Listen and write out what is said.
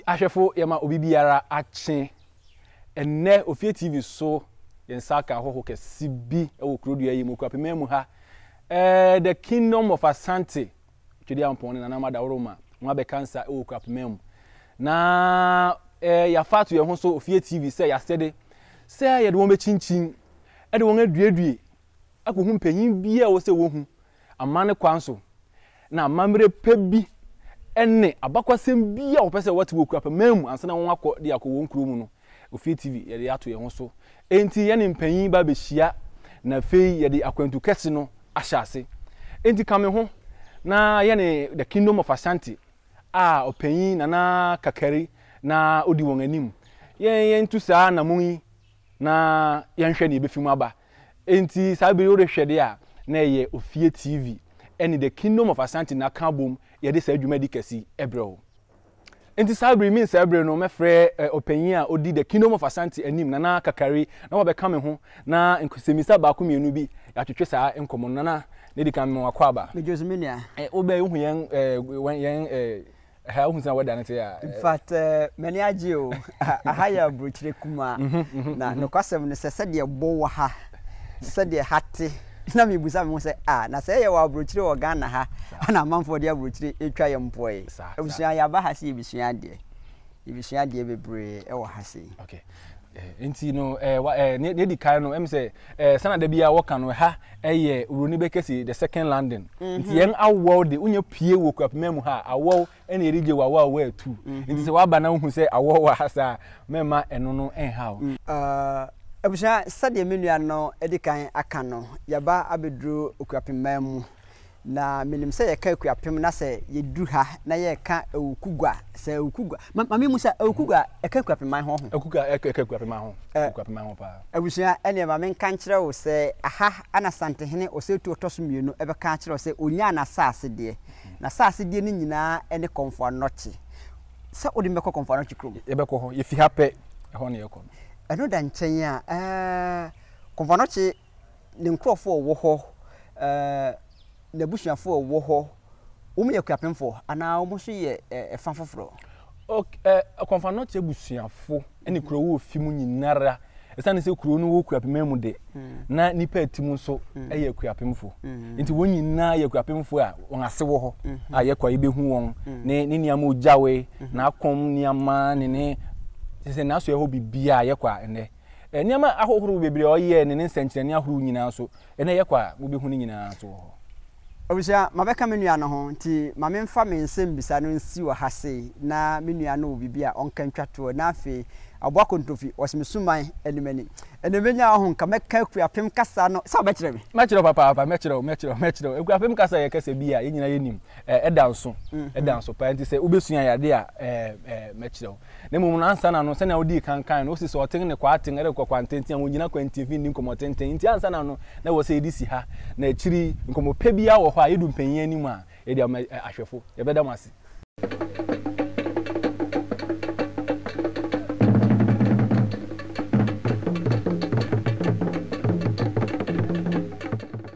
Ahwɛfo, yɛma obi biara akye. Ɛnnɛ, ofie TV so, yɛn nsa aka ahɔho kɛse bi wɔ kurodua yi mu, Kwapimaamu ha. Eh, The Kingdom of Asante. Twedeampɔn ne Nana Mada Woroma ho abɛkansa wɔ Kwapima mu. Na eh, yɛafa ato yɛn ho so ofie TV sɛ yɛasɛde sɛ yɛde wɔn bɛkyinkyin de wɔn aduedue akɔhu mpanyin bi a ɛwɔ sɛ wɔhu amanne kwan so na amammerɛ pa bi ne abakwasɛm bi a wɔpɛ sɛ wɔte wɔ Kwapima mu ansa na wɔakɔ de akɔ wɔn kuro mu no Ofie TV yɛde ato yɛn ho so. Enti yɛne mpanyin ba behyia, na afei yɛde akwantu kɛse no ahyɛ ase. Enti ka me ho na yɛne The Kingdom of Ashanti a Ɔpanyin Nana Kakari na odi wɔn anim, yɛn yɛntu saa anammɔn yi na yɛnhwɛ nea ebefi mu aba. Enti saa bere yi worehwɛ de a, na ɛyɛ Ofie TV ne The Kingdom of Ashanti na aka abom yɛde saa dwumadi kɛse yi brɛ wo. Enti saa bere yi, me nsɛe bere no, mɛfrɛ ɔpanyin a odi The Kingdom of Asante anim, Nana Kakari, na wabɛka me ho, na nsɛmmisa baako mmienu bi, yɛatwetwe saa nkɔmmɔ no. Nana, na edi kan mema wo akwaaba. Megye wo so, me nua. Wobɛn, wohu yɛn, eh, yɛn, eh, ha, wohu sɛnea weather no te a. In fact, m'ani agye o. Aha yɛ aburokyire kumaa. Na nokwasɛm ne sɛ, sɛdeɛ ɛbɔ wɔ ha, sɛdeɛ ha te, Na mibisa me ho sɛ, Ah, na sɛɛ yɛ wɔ aburokyire wɔ Ghana ha a na amanfoɔ de aburokyire retwa yɛn mpoɔ yi. Abusua, yɛaba ha sɛ yɛbɛsua adeɛ. Yɛbɛsua adeɛ bebree wɔ ha sei. Okay. Eh, nti no, eh, wa, eh, ne, ne di kan no, em sɛ, eh, sana da biara wɔka no, ha, ɛyɛ, Uroni bɛkɛ si, the second London. Mm -hmm. Nti yɛn awɔw de, wonyɛ pie wɔ Kwapima mu ha, awɔw ɛna yɛde gye wawa a wɔatu mm-hmm. nti sɛ waba na wohu sɛ awɔ wɔ ha saa mɛma ɛno no ɛnha o. Mm. Uh, abusua sɛdeɛ me nua no de kan aka no yɛba abɛduru okuapemmaa mu na menim sɛ yɛka akuapem na sɛ yɛduru ha na yɛka awukugua sɛ awukugua mame mu sɛ awukugua ɛka akuapemman ho ho ɛka akuapemman ho akuapemman ho paa abusua ɛneɛ ma menka nkyerɛ wo sɛ aha ana santehene ɔsɛtu ɔtɔ so mmienu ɛbɛka akyerɛ wo sɛ ɔnyaa no asase deɛ N'asase deɛ no nyinaa ne Komfo Anokye. Sɛ wode me bɛkɔ Komfo Anokye kurom. Yɛbɛkɔ hɔ. Yɛfi ha pɛ, ɛhɔ na yɛkɔ no. Ɛno da nkyɛn a, eh, Komfo Anokye, ne nkurɔfoɔ a wɔwɔ hɔ, eh, n'abusuafoɔ a wɔwɔ hɔ, wɔyɛ akuapemfoɔ anaa wɔn nso yɛ, eh, ɛfa foforɔ? Ok eh, Kɔmfannɔkye abusuafo ne kurow wɔ fi mu nyinara. Esiane sɛ kurow no wɔ Kuapem mu de, na nnipa ɛte mu nso yɛ Kuapemfo. Enti wɔn nyinaa yɛ Kuapemfo a wɔn ase wɔ hɔ a yɛkɔ a yɛbɛhu wɔn, ne ne nneɛma a ɔgyawee, n'akɔm nneɛma ne ne kyerɛ sɛ n'asoɛhɔ biribiara a yɛkɔ a ɛnnɛ. Nneɛma ahohorow bebree a ɔyɛe ne ne nsɛnkyerɛnne ahorow nyinaa nso, Ɛnna ɛyɛ kwa a mubehu ne nyinaa nso wɔ hɔ. Abusua, mabɛka me nua no ho, nti ma memfa me nsɛmmisa no nsi wɔ ha sei na me nua no wɔ biribi a ɔnka ntwa toɔ na afei ɔbɔ akontofi wɔ me suman anim ani. Ɛnna mɛnya ɔho nka mɛka Akuapem kasa no. Sɛ wobɛkyerɛ me? Mɛkyerɛ wo papaapa, mɛkyerɛ wo, mɛkyerɛ wo, mɛkyerɛ wo. Akuapem kasa yɛ kasa bi a yɛn nyinaa yɛnim. Ɛda nso, ɛda nso paa, nti sɛ wobɛsua yɛ adeɛ a, ɛɛ, ɛɛ, mɛkyerɛ wo. Na mmom no, ansa na no, sɛnea wodii kan kae no, osi so, ɔtew ne kwaaten de kɔ kwantenten a wonnyina kwantifi nni nkɔmmɔtenten. Enti ansa na no, na ɛwɔ sɛ yɛde si ha, na akyiri yi, nkɔmmɔ pɛ biara wɔ hɔ a, yedu mpanyin anim a, yɛde ama ahwɛfo. Yɛbɛda mo ase.